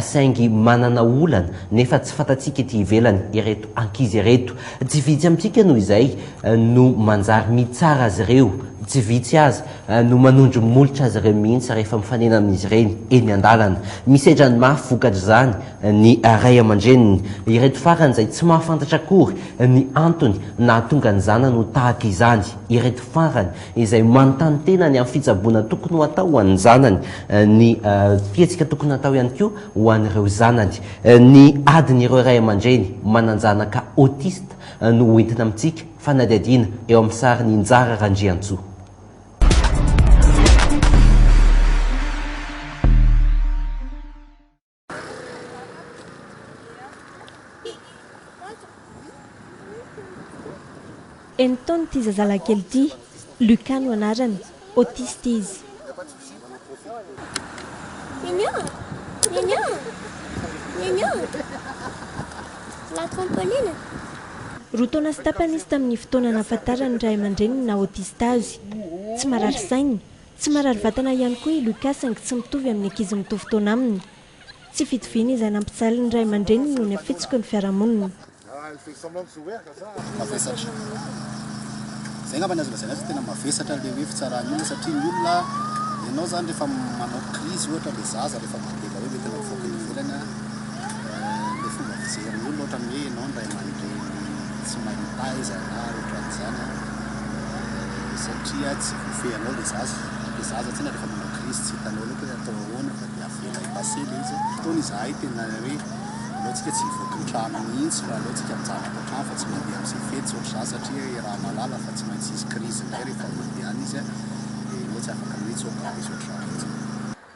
Saingy manana olana nefa tsy fantatsika ety ivelany ireto ankizy ireto. Tsy vitsy amintsika noho izay no manjary mitsara azy ireo, tsy vitsy aza no manondro molotra azy ireo mihitsy rehefa mifanena amin'izy ireny eny an-dalana. Misedra ny mafy vokatr'izany ny ray aman-dreniny. Ireto farany izay tsy mahafantatra akory ny antony nahatonga ny zanany ho tahaka izany ireto farany izay manontany tena ny amin'ny fitsaboana tokony ho atao ho an'ny zanany, ny fihetsika tokony hatao ihany koa ho an'ireo zanany. Ny adin'ireo ray aman-dreny manan-janaka autiste no ho entina amintsika fanadihadiana eo amin'ny sarin'i Injara Randriantsoa. Enin-taona ity zazalahy kely ity, Lucas no anarany, autiste izy. Roa taona sy tapany izy tamin'ny fotoana nahafantaran'ny ray aman-dreniny ny naha-autiste azy. Tsy marary saina. Tsy marary vatana ihany koa i Lucas saingy tsy mitovy amin'ny ankizy mitovy taona aminy. Tsy fitoviana izay nampijaly ny ray aman-dreniny no nafitsoky ny fiarahamonina. satria tsy voafehy anao ilay zaza, ilay zaza tsinona rehefa manao crise tsy hitanao loatra hoe atao ahoana fa dia avela epasser ilay izy, ataony izahay tena hoe aleontsika tsy hivoaka ny trano mihintsy fa aleontsika mijanona ato an-trano fa tsy mandeha amin'izay fety tsy ohatr'izany satria iaraha mahalala fa tsy maintsy hisy crise indray rehefa mandeha any izy dia ianao tsy afaka mihintsy hoe gaga sy ohatr'izany intsony.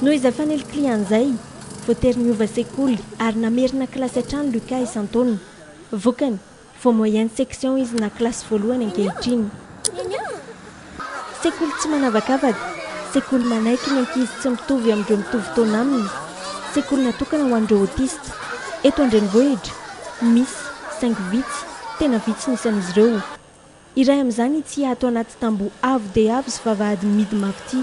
Noho izay faniliklihana izay, voatery niova sekoly ary namerina kilasy hatrany Lucas isan-taona. Vokany, vao moyenne section izy na kilasy voalohany ankehitriny. Sekoly tsy manavakavaka, sekoly manaiky ny ankizy tsy mitovy amin'ireo mitovy taona aminy, sekoly natokana ho an'ireo autiste. Eto an-drenivohitra, misy, saingy vitsy, tena vitsy ny isan'izy ireo. Iray amin'izany ity ato anaty tamboho avo dia avo sy vavahady mihidy mafy ity.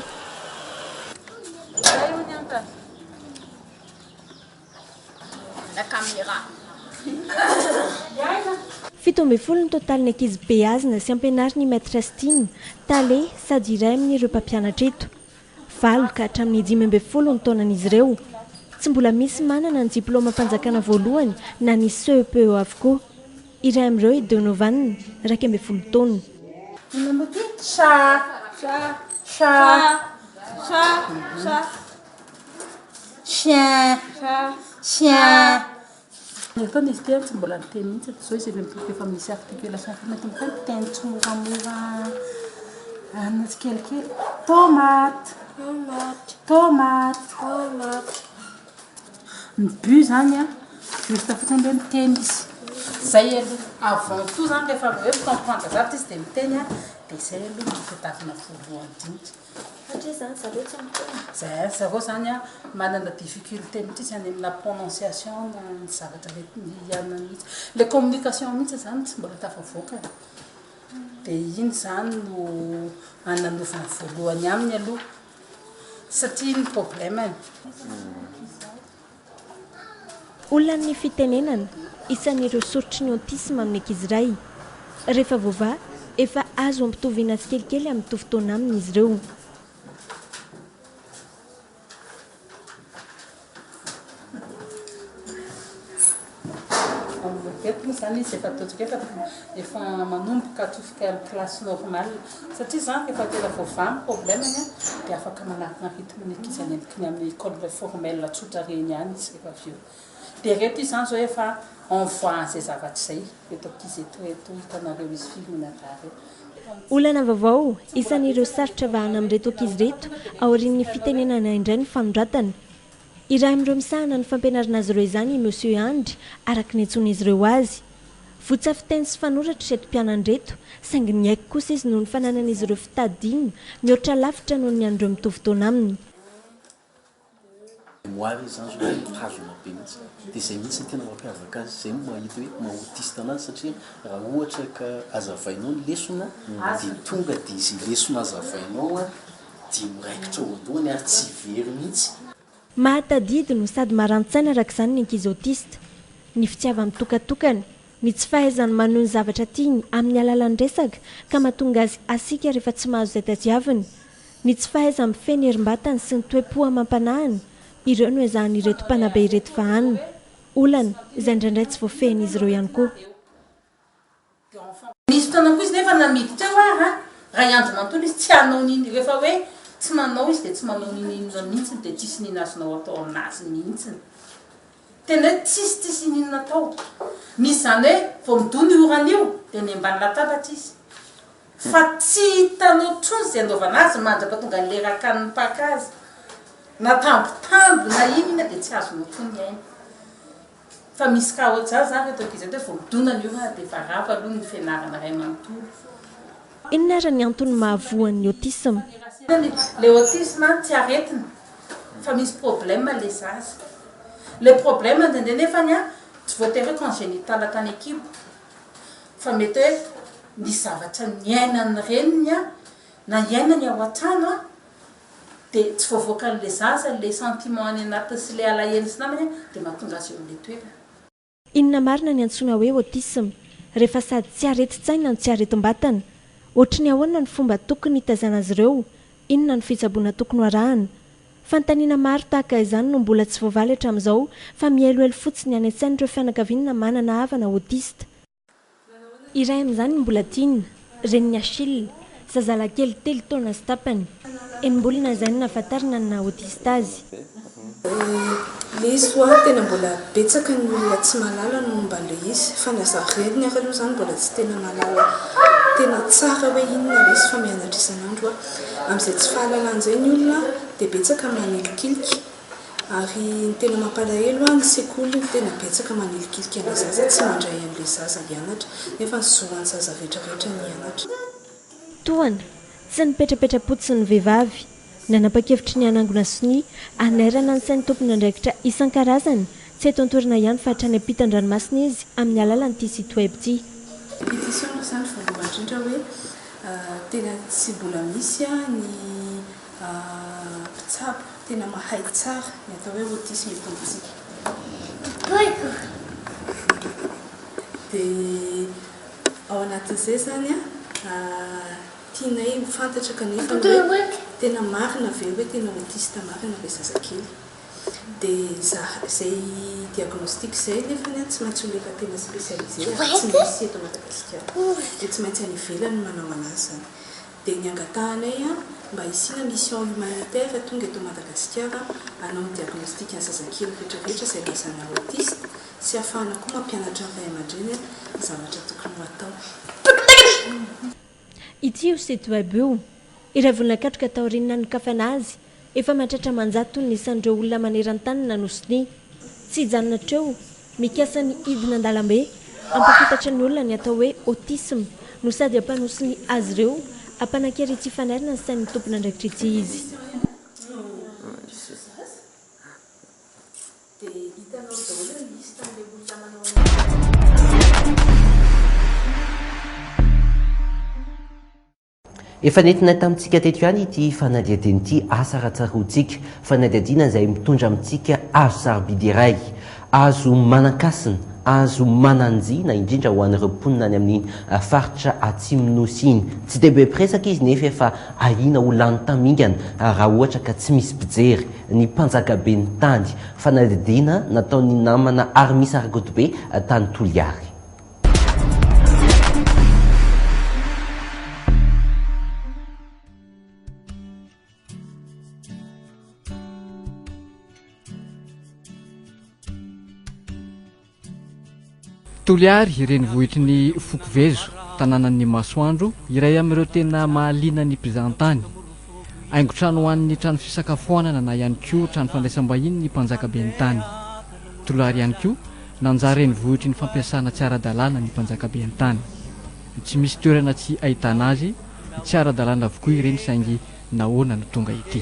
Fito ambin'ny folo ny totalin'ny ankizy beazina sy ampianarin'ny Maîtresse Tine, Tale, sady iray amin'ireo mpampianatra eto. Valo ka hatramin'ny dimy ambin'ny folo ny taonan'izy ireo. Tsy mbola misy manana ny diplaomam-panjakana voalohany na ny CEPE avokoa. Iray amin'ireo i Donovan, iraika ambin'ny folo taona. Ny ataony izy ity tsy mbola niteny mihitsy hatrizao izy ireny boky efa misy article sasany eto mitohy miteny tsimoramora any tsikelikely tomate tomate tomate tomate ny but zany a juste fotsiny hoe miteny izy zay aloha avant tout zany rehefa hoe mifampifankazato izy dia miteny a dia zay aloha no fitafina voalohany dinika Satria zany zareo tsy miteny. Zay ry zareo zany an manana difficulté mitritsy any amina prononciation na ny zavatra le hianany mihintsy. Le communication mihintsy zany tsy mbola tafavoaka e. De iny zany no ananovan'ny voalohany aminy aloha satria iny problème-ny. Olana ny fitenenana, isan'ireo soritry ny autisme amin'ny ankizy iray. Rehefa voavaha, efa azo ampitoviana tsikelikely amin'ny mitovy taona aminy izy ireo. Olana vaovao, Isan'ireo sarotra vahana amin'ireto ankizy ireto, aorian'ny fitenenana indray ny fanoratana. Iray amin'ireo misahana ny fampianarana azy ireo izany i Monsieur Andry, araka ny iantsoan'izy ireo azy. Votsa fiteny sy fanoratra ireto mpianan'ireto, saingy niaiky kosa izy noho ny fananan'izy ireo fitadidiana mihoatra lavitra noho ny an'ireo mitovy taona aminy. Mémoire izy zany zao no mitazona be mihitsy dia izay mihitsy no tena mampiavaka azy, izay no mahita hoe maha autiste anazy satria raha ohatra ka hazavainao ny lesona dia tonga dia izay lesona hazavainao dia miraikitra eo an-dohany ary tsy very mihitsy. Mahatadidy no sady marani-tsaina araka izany ny ankizy autiste. Ny fitiava-mitokatokana, ny tsy fahaizany manohy ny zavatra tiany amin'ny alalan'ny resaka ka mahatonga azy hasiaka rehefa tsy mahazo izay tadiaviny, ny tsy fahaiza-mifehy ny herim-batany sy ny toe-po amam-panahiny, ireo no ezahan'ireto mpanabe ireto vahana. Olana izay indraindray tsy voafehin'izy ireo ihany koa. Nisy fotoana koa izy nefa namidy teo ary an, ray andro manontolo izy tsy hanao n'in, rehefa hoe tsy manao izy dia tsy manao n'inon'inona mihitsiny dia tsisy n'in azonao atao amin'azy mihitsiny. Tena hoe tsisy tsisy n'inona atao. Misy izany hoe vao midoha ny orana io dia ny ambany latabatra izy. Fa tsy hitanao intsony izay anaovana azy mandraka tonga an'ilay rakany mipaka azy. Na tambitamby na inona dia tsy azonao intsony ny ainy. Fa misy cas ohatr'izany zany reto ankizy reto hoe vao midonana io raha dia varava aloha ny fianarana iray manontolo. Inona ary ny antony mahavoa ny autisme? Le autisme an tsy aretina fa misy problème le zaza. Le problème indraindray nefany an tsy voatery hoe congenital tany an-kibo fa mety hoe nisy zavatra niainan'ny reniny an na iainany ao an-trano an dia tsy voavoakan'ilay zaza ilay sentiment any anatiny sy ilay alahelony sy namany dia mahatonga azy eo amin'ilay toerana. Inona marina ny antsoina hoe autisme rehefa sady tsy aretin-tsaina no tsy aretim-batana? Ohatry ny ahoana ny fomba tokony hitazana azy ireo? Inona no fitsaboana tokony ho arahana? Fanontaniana maro tahaka izany no mbola tsy voavaly hatramin'izao fa mihelohelo fotsiny any an-tsain'ireo fianakaviana manana havana autiste. Iray amin'izany i Mbolatiana, renin'i Achille, zazalakely telo taona sy tapany. Enim-bolana izay no nahafantarana ny naha-autiste azy. Izy koa tena mbola betsaka ny olona tsy mahalala ny momba an'ilay izy, fa na zaho reniny ary aloha izany mbola tsy tena mahalala tena tsara hoe inona ilay izy fa mianatra isan'andro aho. Amin'izay tsy fahalalany izay ny olona dia betsaka manilokilika. Ary ny tena mampalahelo an, ny sekoly no tena betsaka manilikilika anle zaza tsy mandray anle zaza hianatra nefa ny zo an zaza rehetra rehetra ny hianatra. Tohana, tsy nipetrapetra-potsiny ny vehivavy. Nanapa-kevitry ny hanangona sonia hanairana ny sain'ny tompon'andraikitra isan-karazany, tsy eto an-toerana ihany fa hatrany ampitan-dranomasina izy amin'ny alalan'ity site web ity. Pétition aloha izany voalohany indrindra hoe tena tsy mbola misy ny. Aah mpitsabo tena mahay tsara ny atao hoe autisme eto amintsika. Tohiko! Dia ao anatin'izay izany an, tianay ho fantatra kanefa ny hoe tena marina ve hoe tena autiste marina ilay zazakely. Dia izay diagnostic izay nefany an, tsy maintsy ho lefa-tena spécialisé ary tsy misy eto Madagasikara. Dia tsy maintsy any ivelany no manao an'azy izany. dia ny angatahanay mba hisiana mission humanitaire tonga eto Madagasikara hanao ny diagnostic an'ny zazakely retraretra izay lazana autiste sy hafahana koa mampianatra ny ray aman-dreny ny zavatra tokony ho atao. Ity io site web io, ilay vola nakatroka taorian'ny nanokafana azy, Efa mahatratra aman-jato ny isan'ireo olona maneran-tany na nosin'ny. Tsy hijanona hatreo, mikasa ny hidina an-dalambe. Hampafantatra ny olona ny atao hoe autisme no sady hampanosin'ny azy ireo, hampanan-kery tsy hifanarina ny sain'ny tompon'andraikitry tsy izy. Efa nentina tamintsika teto ihany ity fanadihadiana ity, asa raha tsaroantsika. Fanadihadiana izay mitondra amintsika hazo sarobidy iray, hazo manan-kasina, hazo manan-jia na indrindra ho an'ireo mponina any amin'iny faritra Atsimon'ny Nosy iny. Tsy dia be mpiresaka izy nefa efa ahiana ho lany tamingana raha ohatra ka tsy misy mpijery. Ny mpanjakaben'ny tany. Fanadihadiana nataon'ny namana Armis Argotibe tany Toliary. Toliary, renivohitry ny foko Vezo, tanànan'ny masoandro, iray amin'ireo tena mahaliana ny mpizahan-tany. Haingon-trano ho an'ny trano fisakafoanana na ihany koa trano fandraisam-bahiny ny mpanjaka ben'ny tany. Toliary ihany koa, nanjary renivohitry ny fampiasana tsy ara-dalàna ny mpanjaka ben'ny tany. Tsy misy toerana tsy ahitana azy, tsy ara-dalàna avokoa ireny saingy nahoana no tonga ity?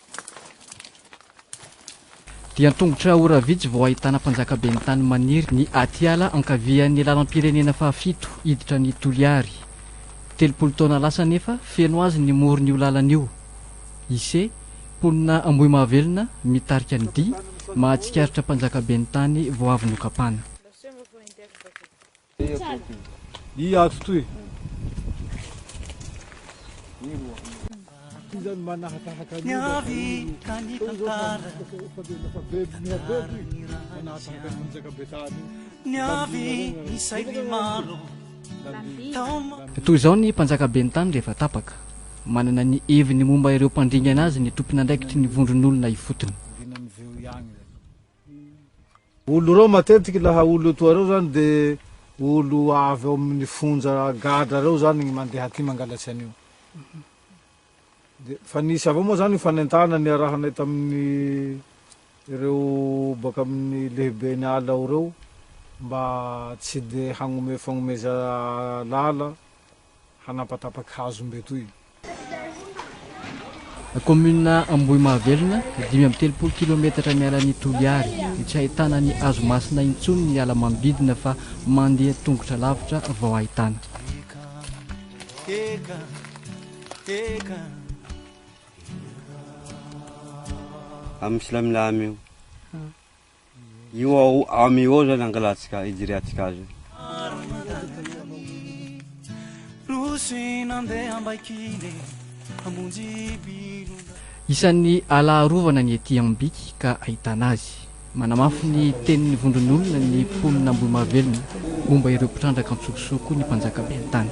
Dia an-tongotra ora vitsy vao ahitana mpanjakaben'ny tany maniry ny atiala ankavian'ny lalam-pirenena fahafito hiditra any Toliary. Telopolo taona lasa anefa feno azy ny moron'io lalana io. Ise, mponina Ambohimahavelona, mitarika ny dihy mahatsikaritra mpanjakaben'ny tany vao avy nokapana. Toy izao ny mpanjakaben'ny tany rehefa tapaka, manana ny heviny momba ireo mpandringana azy ny tompon'andraikitry ny vondron'olona ifotony. Olo ireo matetiky laha olo etoa reo zany de olo avy ao aminy fonja gadra reo zany ny mandeha aty mangalatsia anio de fa nisy avao moa zany fanentana niarahanay taminy reo baka aminy lehibeny ala ao reo mba tsy de hagnome fagnomeza lala hanapatapaka hazo mbetoy. Kaominina Ambohimahavelona, dimy amby telopolo kilometatra miala an'i Toliary. Tsy ahitana ny hazo masina intsony ny ala manodidina fa mandeha tongotra lavitra vao ahitana. Amin'ny Silamilamu io. Io ao am io ao zany angalantsika ijiriantsika azy io. Isan'ny ala arovana ny ety Ambiky ka ahitana azy. Manamafy ny tenin'ny vondron'olona ny mponina Ambohimahavelona momba ireo mpitrandraka an-tsokosoko ny mpanjaka ben'ny tany.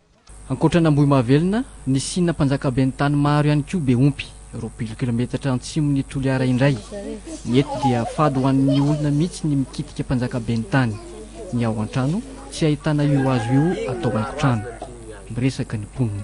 Ankoatran'Ambohimahavelona, nisiana mpanjakaben'ny tany maro ihany koa Behompy, roapolo kilometatra antsimon'i Toliara indray. Ny eto dia fady ho an'ny olona mihitsy ny mikitika mpanjakaben'ny tany. Ny ao an-trano, tsy ahitana io hazo io atao haingon-trano. Miresaka ny mponina.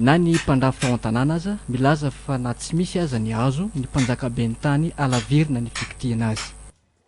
Na ny mpandrafitra ao an-tanàna aza milaza fa na tsy misy aza ny hazo, ny mpanjakaben'ny tany halavirina ny fikitihina azy.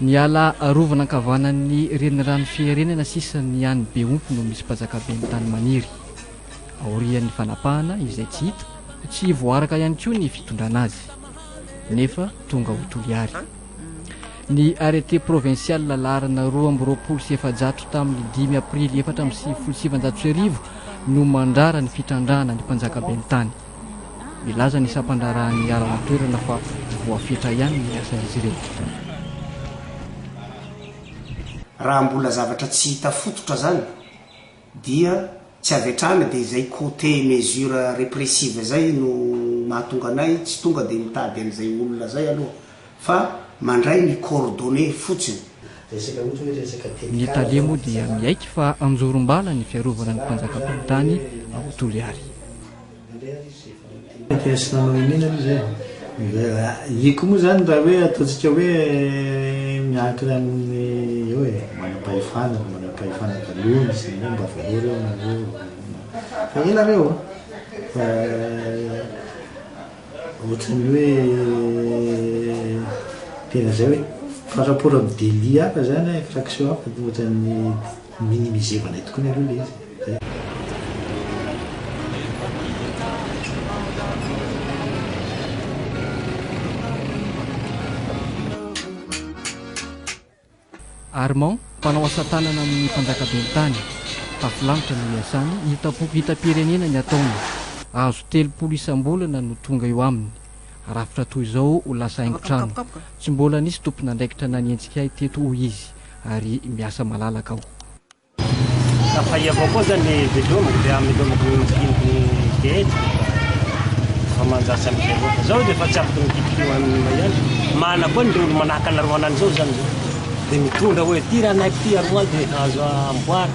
Ny ala arovana ankavanan'ny renirano Fiherenana sisa ny any Behompy no misy mpajakaben'ny tany maniry. Aorian'ny fanapahana izay tsy hita, tsy voaaraka ihany koa ny fitondrana azy. nefa tonga ao Toliary. Ny arrêté provincial laharana roa amby roapolo sy efajato tamin'ny dimy aprily efatra amby sivifolo sy sivinjato sy arivo no mandrara ny fitrandrahana ny mpanjaka ben'ny tany. Milaza ny sampandraharahan'ny iaraho an-toerana fa voafetra ihany ny asan'izy ireo. Raha mbola zavatra tsy hita fototra zany dia tsy avy hatrany dia izay côté mesure répressive zay no mahatonga anay tsy tonga dia mitady an'izay olona zay aloha fa mandray ny coordonnées fotsiny. Ny tale moa dia miaiky fa anjorom-bala ny fiarovana ny mpanjakam-pahitany ao Toliary. Test nanao iniana aloha zay e. Iko moa zany raha hoe ataontsika hoe miankina amin'ny eo e, manam-pahefana, manam-pahefana taloha misy ny hoe mba velao reo nareo, fa ela reo an, fa ohatran'ny hoe tena zay hoe par rapport amin'ny délit hafa zany an, infraction hafa ohatran'ny. Minimisez valais tokoa nareo le izy zay. Armand, mpanao asatanana amin'ny mpanjakabeny tany. Tafilamitra no iasany, hitam-poko hitam-pirenena ny ataony. Azo telopolo isam-bolana no tonga eo aminy. Rafitra toy izao ho lasa haingon-trano. Tsy mbola nisy tompon'andraikitra nanenjika ahy teto hoy izy. ary miasa malalaka aho. Ka fahia avao koa zany ny velomiko dia amelomako ny maskiniky ny feheziko fa efa manjary amin'izay avao fa zao dia efa tsy afaka mikitikio an'i Maiandry mana koa ny reny manahaka anareo anany zao zany zao dia mitondra hoe ity ranahiko ity ary hoany dia efa azo amboary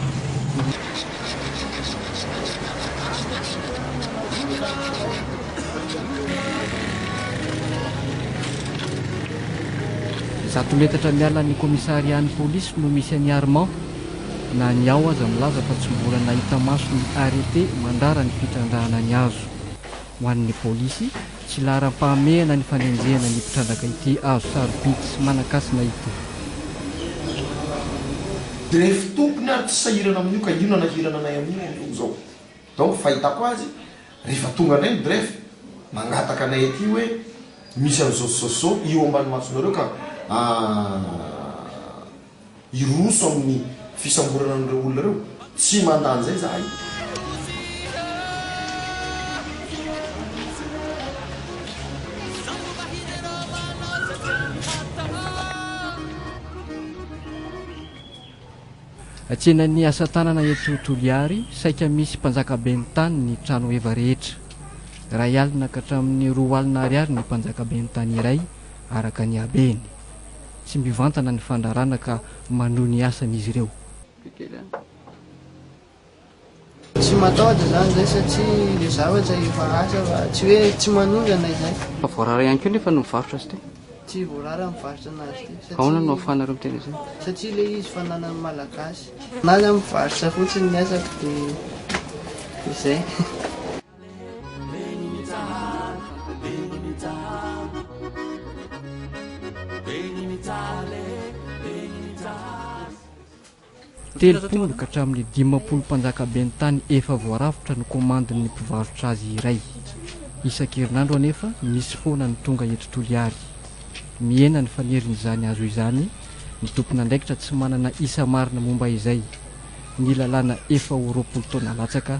Zato metatra miala ny commissariat-n'ny polisy no misy an'i Armand. Na ny ao aza milaza fa tsy mbola nahita maso ny arrêté mandrara ny fitrandrahana ny hazo. Ho an'ny polisy, tsy laharam-pahamehana ny fanenjehana ny mpitrandraka ity hazo sarobidy sy manan-kasina ity. Dia fitopiny ary tsy sahirana amin'io ka io nanahirana anay amin'io amin'izao. Izao ny fahitako azy Rehefa tonga indray ny grefy, mangataka anay aty hoe misy an'izao sy izao sy izao eo ambany masonareo ka hiroso amin'ny fisamborana an'ireo olona ireo. Tsy mandà an'izay izahay. Tsenan'ny asa tanana eto Toliary, saika misy mpanjaka ben'ny tany ny trano heva rehetra. Iray alina ka hatramin'ny roa alina ariary ny mpanjaka ben'ny tany iray araka ny habeny. Tsy mivantana ny fandrarana ka manohy ny asany izy ireo. Tsy matahotra izany izay satria ilay zavatra efa asa fa tsy hoe tsy manondrana izay. Fa voarara ihany koa nefa no mivarotra azy ity? Tsy voarara mivarotra anazy ity satria. Ahoana no ahafahanareo miteny izay? Satria ilay izy fananan'ny Malagasy. Anazy aho mivarotra fotsiny ny asako dia izay. Telopolo ka hatramin'ny dimampolo mpanjakaben'ny tany efa voarafitra no komandin'ny mpivarotra azy iray. Isan-kerinandro anefa misy foana ny tonga eto Toliary. Mihena ny fanerin'izany azo izany ny tompon'andraikitra tsy manana isa marina momba izay. Ny lalàna efa ho roapolo taona latsaka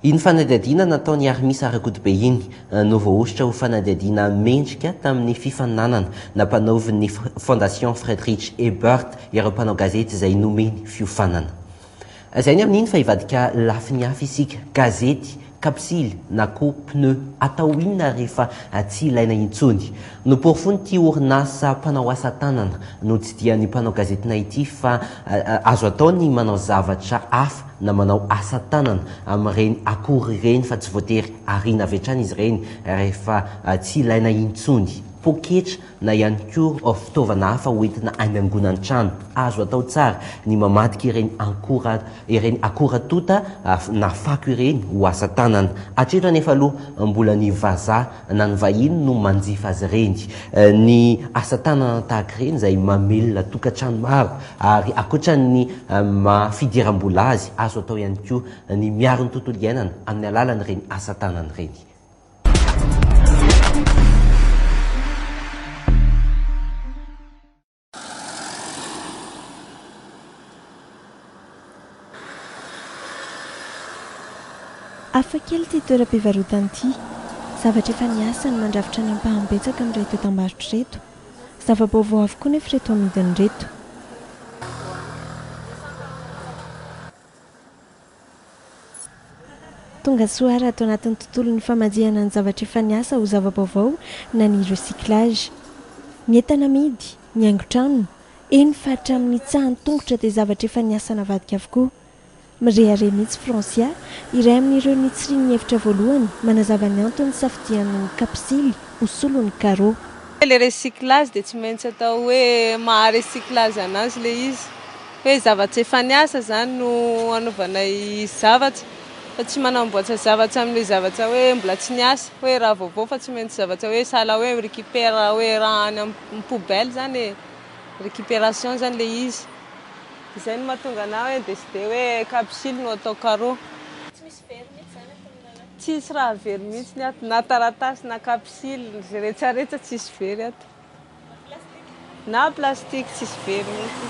Iny fanadihadiana nataon'i Armisa Rakotobe iny no voahosotra ho fanadihadiana mendrika tamin'ny fifaninanana nampanaovin'ny Fondation Friedrich Ebert ireo mpanao gazety izay nomeny fiofanana. Lazainy amin'iny fa hivadika lafiny hafa isika, gazety, kapsily na koa pneu atao inona rehefa tsy ilaina intsony. Noporofoin'ity orinasa mpanao asa tanana notsidihany mpanao gazety Naity fa azo atao ny manao zavatra hafa na manao asa tanana amin'ireny akora ireny fa tsy voatery ariana avy hatrany izy ireny rehefa tsy ilaina intsony, poketra na ihany koa fitaovana hafa hoentina any angonan-trano. Azo atao tsara ny mamadika ireny ankora ireny akora tonta na fako ireny ho asa tanana. Hatreto anefa aloha mbola ny vazaha na ny vahiny no manjifa azy ireny. Ny asa tanana tahaka ireny izay mamelona tokantrano maro ary ankoatran'ny maha fidiram-bola azy, azo atao ihany koa ny miaro ny tontolo iainana amin'ny alalan'ireny asa tanana ireny. Hafa kely ity toeram-pivarotana ity. Zavatra efa niasa no mandrafitra ny ampahany betsaka amin'ireto entam-barotra ireto. Zava-baovao avokoa nefa ireto amidiny ireto. Tongasoa raha ato anatin'ny tontolon'ny famanjihana ny zavatra efa niasa ho zava-baovao na ny recyclage. Ny entana amidy, ny haingon-trano, eny fa hatramin'ny tsahan'ny tongotra dia zavatra efa niasa navadika avokoa. Mirehareha mihitsy Francia, iray amin'ireo nitsirian'ny hevitra voalohany, manazava ny antony nisafidiany ny kapisily ho solon'ny carreaux. Ilay recyclage dia tsy maintsy atao hoe maha-recyclage an'azy ilay izy. Hoe zavatra efa niasa izany no anaovanay zavatra fa tsy manamboatra zavatra amin'ilay zavatra hoe mbola tsy niasa, hoe raha vaovao fa tsy maintsy zavatra hoe sahala hoe mi-recupère hoe raha any amin'ny poubelle izany e, récupération izany ilay izy. Izay no mahatonga anà hoe décider hoe capsule no atao carreau. Tsy misy very mihitsy izany ato amin'ny lalàna? Tsisy raha very mihitsy ny ato, na taratasy na capsule, izay rehetra rehetra tsisy very ato. Na plastique tsisy very mihitsy.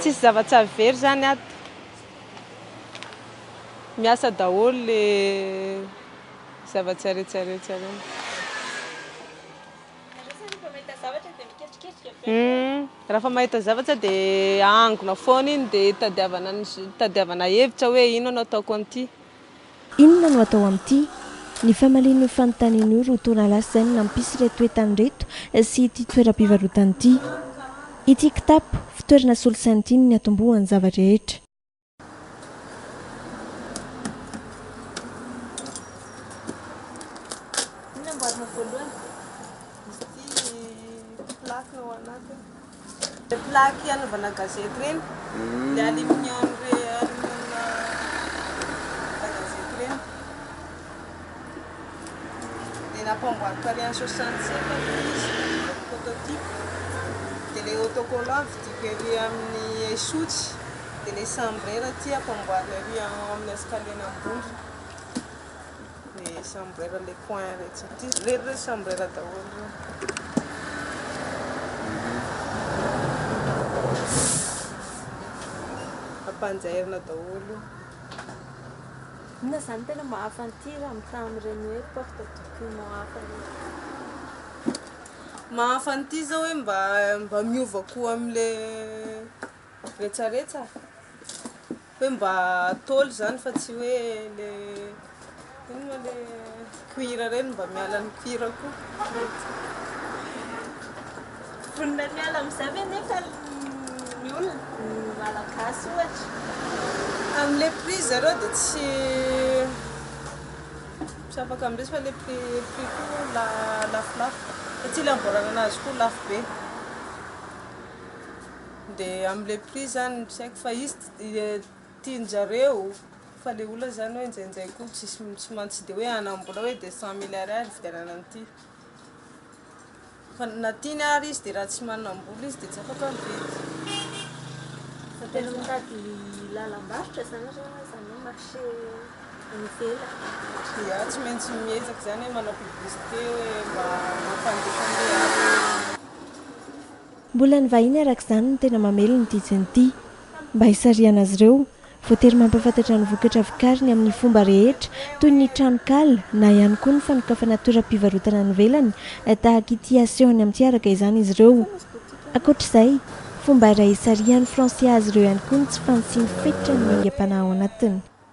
Tsisy zava-tsaly very zany ato. Miasa daholo le zava-tsarehetra rehetra reny. Hmm, raha fa mahita zavatra dia ahangona foana iny dia tadiavana tadiavana hevitra hoe inona no ataoko an'ity. Inona no atao amin'ity? Ny famalian'io fanontaniana io roa taona lasa izay no nampisy ireto toetany ireto sy ity toeram-pivarotana ity. Ity kitapo, fitoerana solosaina ity no niatombohan'ny zava-drehetra. Ilay plaque anaovana gazety ireny, ilay aluminium gazety ireny. Dia nampanboariko tany an soixante sept aloha izy, prototype. Dia ilay autocollant vidiko ery amin'ny Esotsy, dia ilay chambre aty ampanboarina ery amin'ny escalier-na ambony. Dia chambrera le coin iretsy ity irery ireo chambrera daholo ireo. Ampanjairina daholo. Inona izany no tena mahafa ny tir amin'ny taha amin'ireny hoe porte document hafa ireny? Mahafa ny tir izao hoe mba mba miova koa amin'ilay Retsaretsa? Hoe mba tôly izany fa tsy hoe le inona moa le cuir ireny mba miala ny cuir koa. Vonona ny miala amin'izay ve nefa ny olona, ny Malagasy ohatra? Amin'ilay prix zareo dia tsy tsy afaka miresy fa ilay prix prix koa la lafolafo satria ilay amboarana an'azy koa lafo be. dia am le prix zany tsy haiko fa izy tianjareo fa le olona zany hoe njainjay koa tsisy tsy man tsy de hoe hanambola hoe de cent mille ariary hividianana an'ity fa na tiany ary izy de raha tsy manambola izy de tsy afaka mividy Fa tena mitady lalam-barotra zany nareo na zany hoe marché any ivelany Ia tsy maintsy miezaka zany hoe manao publicité hoe mba mampandefa an'ilay asa. Mbola ny vahiny araka izany no tena mamely ny tijiny ity. Mba hisarihana azy ireo, voatery mampahafantatra ny vokatra vokariny amin'ny fomba rehetra, toy ny tranonkala na ihany koa ny fanokafana toeram-pivarotana any ivelany tahaka ity asehony amin'ity araka izany izy ireo. Ankoatra izay, fomba iray hisarihan'ny Frantsay azy ireo ihany koa ny tsy fanitsian'ny fetra ny aingam-panahy ao anatiny.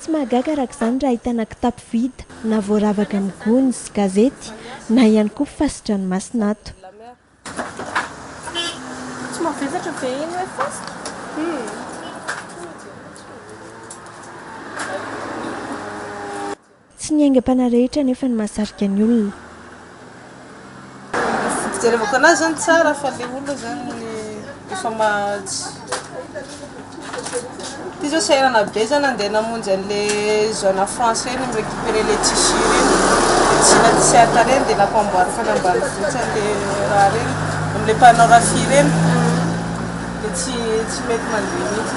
Tsy mahagaga araka izany raha ahitana kitapo vita na voaravaka amin'ny gony sy gazety na ihany koa fasi-dranomasina ato. Tsy ny aingam-panahy rehetra anefa no mahasarika ny olona. Fijerevako anazy zany tsara fa le olona zany efa mahatsy ty zao sahirana be zany andeha namonjy anle zone à français reny mi-recuperer le tissu reny de tsy na tsy hata reny de nampanboary tany ambanivohitra anle raha reny amle mpanao rafia reny de tsy mety mandeha mihitsy.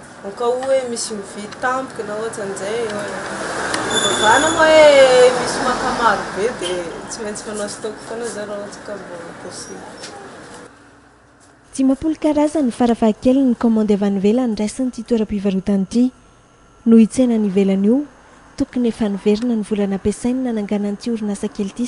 Au cas où hoe misy mividy tampoka na ohatran'izay eo e. Fivavahana moa hoe misy maka maro be dia tsy maintsy manao stock foana zao raha ohatra ka mbola possible. Dimampolo karazany farafahakeliny ny kaomandy avy any ivelany raisin'ity toeram-pivarotana ity. Noho io tsena any ivelany io, tokony efa niverina ny vola nampiasainy nananganany ity orinasa kely ity.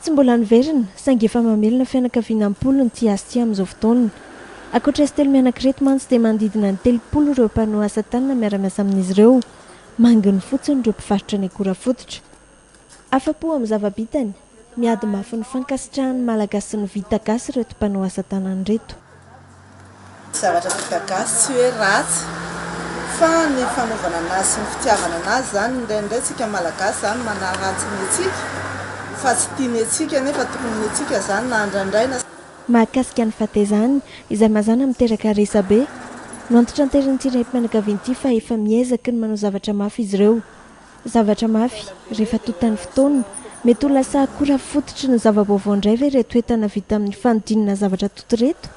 Tsy mbola niverina, saingy efa mamelona fianakaviana am-polony ity asa ity amin'izao fotoana. Ankoatra izy telo mianaka ireto mantsy dia manodidina ny telopolo ireo mpanoa asa tanana miara-miasa amin'izy ireo. Manginy fotsiny ireo mpivarotra ny akora fototra. Afa-po amin'ny zava-bitany, miady mafy ny fankasitrahan'ny Malagasy sy ny vita gasy ireto mpanoa asa tanana ireto. Zavatra vita gasy tsy hoe ratsy fa ny fanaovana anazy sy ny fitiavana anazy zany indraindray tsika malagasy zany manaratsy ny antsika fa tsy tiany antsika nefa tokony ny antsika zany na andrandraina Mahakasika ny fatezany, izay mazàna miteraka resabe, noantitranterin'ity renim-pianakaviana ity fa efa miezaka ny manao zavatra mafy izy ireo. Zavatra mafy, rehefa tontan'ny fotoana. Mety ho lasa akora fototry ny zava-baovao indray ve ireto entana vita amin'ny fanodinana zavatra tonta ireto?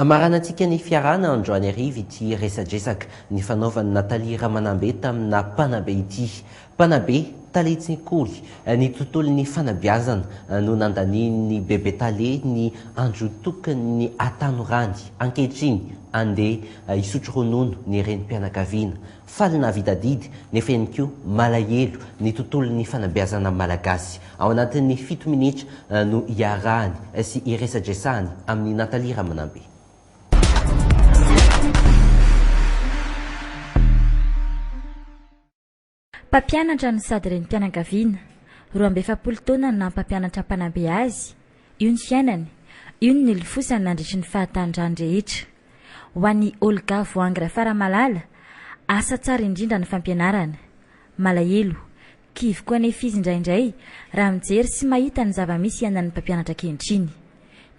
Hamaranantsika ny fiarahana androany hariva ity resadresaka nifanaovan'i Nathalie Ramanambe taminà mpanabe ity. Mpanabe, tale tsekoly, ny tontolon'ny fanabeazana no nandanian'ny bebe tale ny andro tokony hatanorany. Ankehitriny, andeha hisotro ronono ny renim-pianakaviana. Faly nahavita adidy, nefa eny koa malahelo ny tontolon'ny fanabeazana malagasy. Ao anatin'ny fito minitra no iarahany sy iresadresahany amin'i Nathalie Ramanambe. Mpampianatra no sady renim-pianakaviana. Roa amby efapolo taona ny naha-mpampianatra mpanabe azy. Io ny fiainany. Io no nilofosany nandritry ny fahatanorany rehetra. Ho an'i Olga voahangy Rafaramalala, asa tsara indrindra ny fampianarana. Malahelo, kivy koa anefa izy indraindray raha mijery sy mahita ny zava-misy iainan'ny mpampianatra ankehitriny.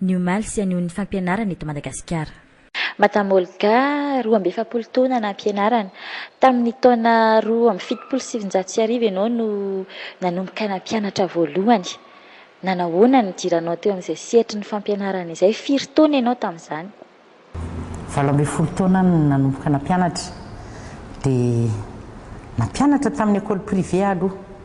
Ny omaly sy anio ny fampianarana eto Madagasikara. Madame Olga, roa amby efapolo taona nampianarana. Tamin'ny taona roa amby fitopolo sy sivinjato sy arivo ianao no nanomboka nampianatra voalohany. Nanahoana ny nidiranao teo amin'izay sehatry ny fampianarana izay? Firy taona ianao tamin'izany? Valo ambin'ny folo taona aho no nanomboka nampianatra. Dia nampianatra tamin'ny école privée aho aloha.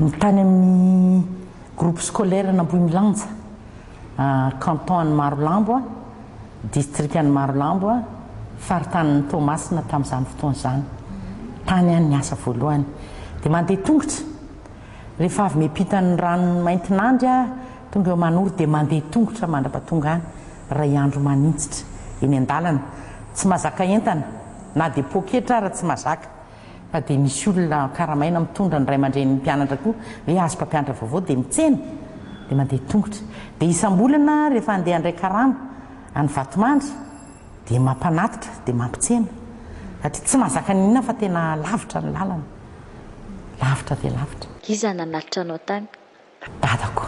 Ny tany amin'ny Groupe Scolaire an'Ambohimilanja, Canton an'i Marolambo, Distrikan'i Marolambo, Faritanin'i Toamasina tamin'izany fotoana izany. Tany ihany ny asa voalohany. Dia mandeha tongotra. Rehefa avy miampita an'i Ranomaintinandry aho, tonga eo Manoro dia mandeha tongotra mandrapatonga any, iray andro maninjitra eny an-dalana. Tsy mazaka entana, na dia poketra ara tsy mazaka. Fa dia misy olona karamaina mitondra ny ray aman-drenin'ny mpianatra koa ve azy mpampianatra vaovao dia mitsena dia mandeha tongotra dia isam-bolana rehefa handeha handray karama any Vatomandry dia mampanatitra dia mampitsena satria tsy mahazaka ny inona fa tena lavitra ny lalana lavitra dia lavitra. Iza nanatitra anao tany? Dadako.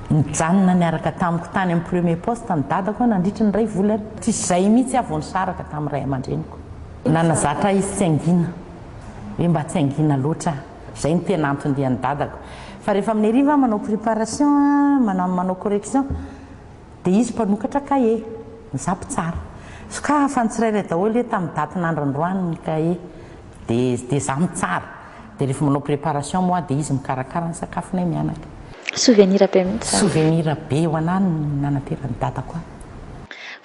Nijanona niaraka tamiko tany amin'ny premier poste ny dadako nandritra ny iray volana. Tsy izay mihitsy aho vao nisaraka tamin'ny ray aman-dreniko. Nanazatra ahy izy tsy hangina, hoe mba tsy hangina loatra aho. Izay no tena anton-dian'ny dadako. Fa rehefa amin'ny hariva aho manao préparation, manao correction, dia izy mpanokatra cahier, izaho mpitsara. Sokafa ny tsirairay daholo hoe tamin'ny daty nandrondroany ny cahier, dia izaho mitsara. Dia rehefa manao préparation moi dia izy mikarakara ny sakafonay mianaka. Souvenir be mihitsy izany. Souvenir be ho anah ny nanateran'i dadako ahy.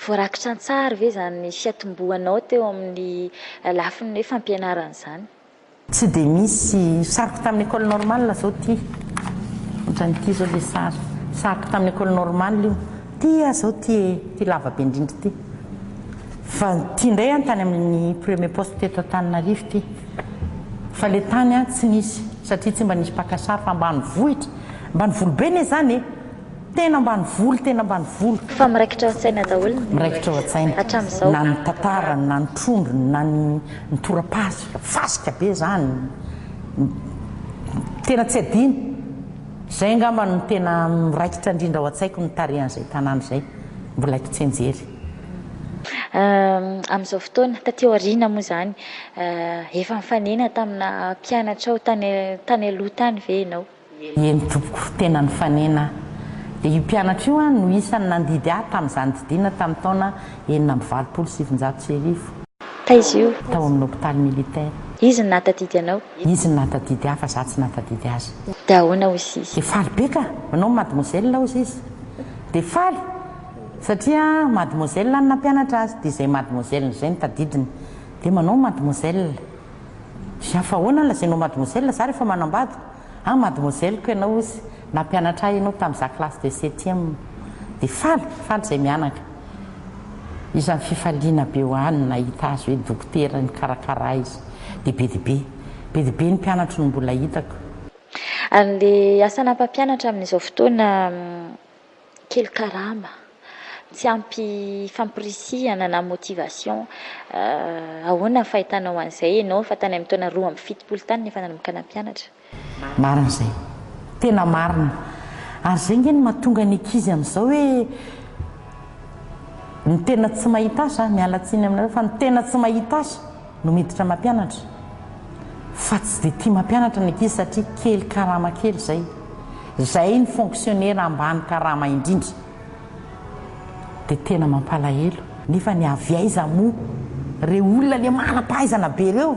Voarakitra an-tsary ve izany fiatombohanao teo amin'ny lafiny hoe fampianarana izany? Tsy dia misy. Sariko tamin'ny Ecole Normale izao ity. Ohatran'ity izao ilay sary. Sariko tamin'ny Ecole Normale io. Ity aho izao ity e. Ity lava be indrindra ity. Fa ity indray aho tany amin'ny premier poste teto Antananarivo ity. Fa le tany an tsy nisy satria tsy mba nisy mpaka sary fa ambanivohitra, ambanivolo be ne zany e! Tena ambanivolo tena ambanivolo. Fa miraikitra ao an-tsaina daholo ny. Miraikitra ao an-tsaina. Hatramin'izao. Na ny tantarany na ny trondrony na ny ny torapasika, fasika be zany, tena tsy adino. Zay angamba no tena miraikitra indrindra ao an-tsaiko ny tarehan'izay tanàna izay, mbola kitsenjery. Amin'izao fotoana, taty aoriana moa zany, Efa nifanena tamina mpianatrao tany tany aloha tany ve ianao? Eny tompoko, tena nifanena aho. Dia io mpianatra io no isan'ny nandidy ahy tamin'izany didiana tamin'ny taona enina amby valopolo sy sivinjato sy arivo. Taiza io? Tao amin'ny hopitaly militaire. Izy no nahatadidy anao? Izy no nahatadidy ahy fa izaho tsy nahatadidy azy. Dia ahoana hozy izy? Dia faly be ka! Manao ny mademoiselle hozy izy. Dia faly! Satria mademoiselle no nampianatra azy dia izay mademoiselle izay no tadidiny. Dia manao mademoiselle. Dia fa ahoana no lazainao mademoiselle, za rehefa manambady? Ah mademoiselle-ko ianao ozy, nampianatra ahy ianao tamin'izaho classe de septième. Dia faly, faly izay mianaka. Isan'ny fifaliana be ho ahy ny nahita azy hoe dokotera nikarakara ahy izy. Dia be dia be. Be dia be ny mpianatro no mbola hitako. Ary ilay asa ana-mpampianatra amin'izao fotoana? Kely karama, tsy ampy famporisihana na motivation. Ahoana ny fahitanao an'izay ianao fa tany amin'ny taona roa amby fitopolo tany no efa nanomboka nampianatra? Marina izay. Tena marina. Ary izay ange no mahatonga ny ankizy amin'izao hoe ny tena tsy mahita asa, miala tsiny aminareo fa ny tena tsy mahita asa, no miditra mampianatra fa tsy dia tia mampianatra ny ankizy satria kely karama kely izay, izay ny fonksionera ambany karama indrindra dia tena mampalahelo. Nefa ny avy aiza moa reo olona le manam-pahaizana be reo?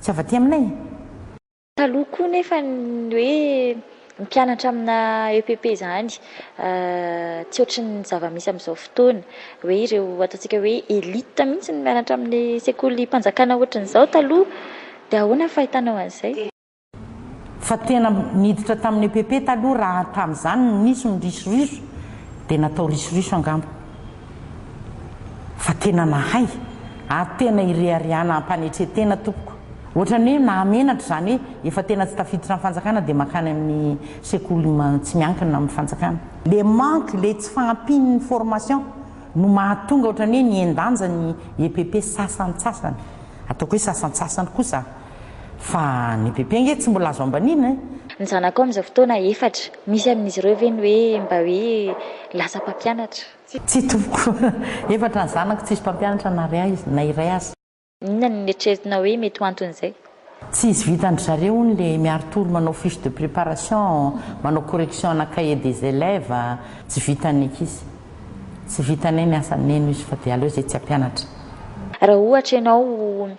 Tsy avy aty aminay e! Taloha koa nefa ny hoe mpianatra amina EPP izany tsy ohatry ny zava-misy amin'izao fotoana. Hoe ireo ataontsika hoe elite mihitsy no mianatra amin'ny sekolim-panjakana ohatry ny izao taloha. Dia ahoana ny fahitanao an'izay? Fa tena niditra tamin'ny EPP taloha raha tamin'izany no nisy ny risoriso dia natao risoriso angamba. fa tena mahay ary tena ireharehana ampanetre-tena tompoko ohatran'ny hoe mahamenatra izany hoe efa tena tsy tafiditra ny fanjakana dia mankany amin'ny sekoly tsy miankina amin'ny fanjakana. Le manque, le tsy fahampian'ny formation no mahatonga ohatran'ny hoe nihen-danja ny EPP sasantsasany, ataoko hoe sasantsasany kosa. Fa ny PP ange tsy mbola azo ambaniana e! Ny zanakao amin'izao fotoana efatra, misy amin'izy ireo ve ny hoe mba hoe lasa mpampianatra? Tsia tompoko, efatra ny zanako tsisy mpampianatra na iray aza, na iray aza. Inona no neritreretinao hoe mety ho anton'izay? Tsy izy vitan-dry zareo hono le miari-tory manao fiche de préparation, manao correction ana cahier des élèves, tsy vitan'ny ankizy. Tsy vitanay ny asa neno izy fa de aleo izay tsy hampianatra. Raha ohatra ianao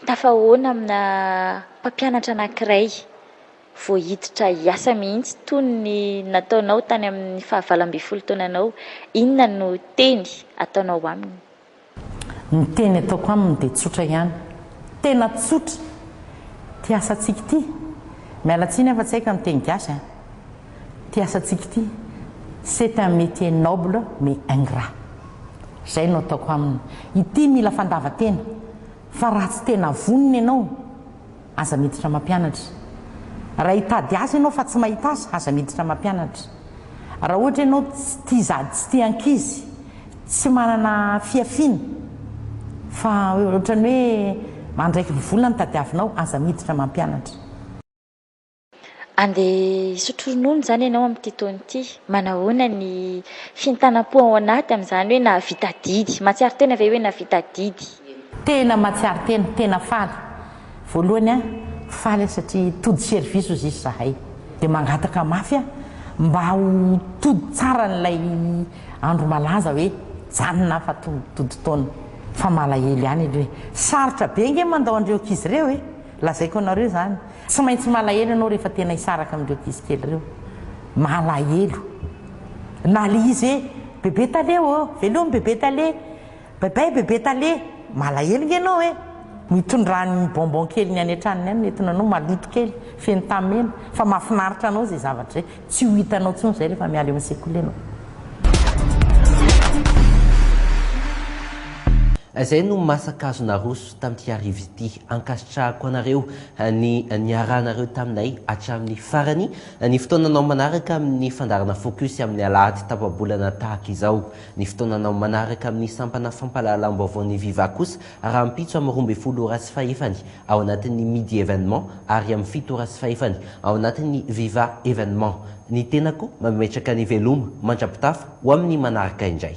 Tafahaona amina mpampianatra anankiray vao hiditra hiasa mihitsy toy ny nataonao tany amin'ny fahavalo ambin'ny folo taonanao. Inona no teny ataonao aminy? Ny teny ataoko aminy dia tsotra ihany. Tena tsotra! Ity asantsika ity. Miala tsiny aho fa tsy hay ka miteny gasy an! Ty asantsika ty c'est un métier noble mais ingrat. Zay no ataoko aminy. Ity mila fandavan-tena fa raha tsy tena vonona ianao aza miditra mampianatra. Raha hitady asa ianao fa tsy mahita asa aza miditra mampianatra. Raha ohatra ianao tsy tia zady tsy tia ankizy tsy manana fihafiana fa ohatran'ny hoe andraikiny vola no tadiavinao aza miditra mampianatra. Andeha hisotro ronono izany ianao amin'ity taona ity. Manahoana ny fientanam-po ao anaty amin'izany hoe nahavita adidy? Mahatsiaro tena ve hoe nahavita adidy? Tena mahatsiaro tena, tena faly. Voalohany an, faly aho satria tody service hozy izy zahay. Dia mangataka mafy aho mba ho tody tsara an'ilay andro malaza hoe janona aho fa tonga tody taona. Fa malahelo ihany aloha e. Sarotra be ange mandao an'ireo ankizy ireo e. Lazaiko anareo izany. Tsy maintsy malahelo ianao rehefa tena hisaraka amin'ireo ankizy kely ireo. Malahelo. Na le izy hoe, Bebe Tale ô, velomy Bebe Tale. Bye bye Bebe Tale. Malahelo nge ianao e. Ny itondrany ny bonbon keliny any an-tranony any no entina anao, maloto kely, feno tamena, fa mahafinaritra anao izay zavatra izay. Tsy ho hitanao intsony izay rehefa miala eo amin'ny sekoly ianao. Izay no masakazo naroso. tamin'ity hariva ity. Ankasitrahako anareo ny niarahanareo taminay hatramin'ny farany ny fotoananao manaraka amin'ny fandaharana Focus amin'ny alahady tapa-bolana tahaka izao. Ny fotoananao manaraka amin'ny sampana fampahalalam-baovao ny Viva kosa rahampitso amin'ny roa ambin'ny folo ora sy fahefany ao anatin'ny Midi Evenement ary amin'ny fito ora sy fahefany ao anatin'ny Viva Evenement. Ny tenako mametraka ny veloma mandra-pitafa ho amin'ny manaraka indray.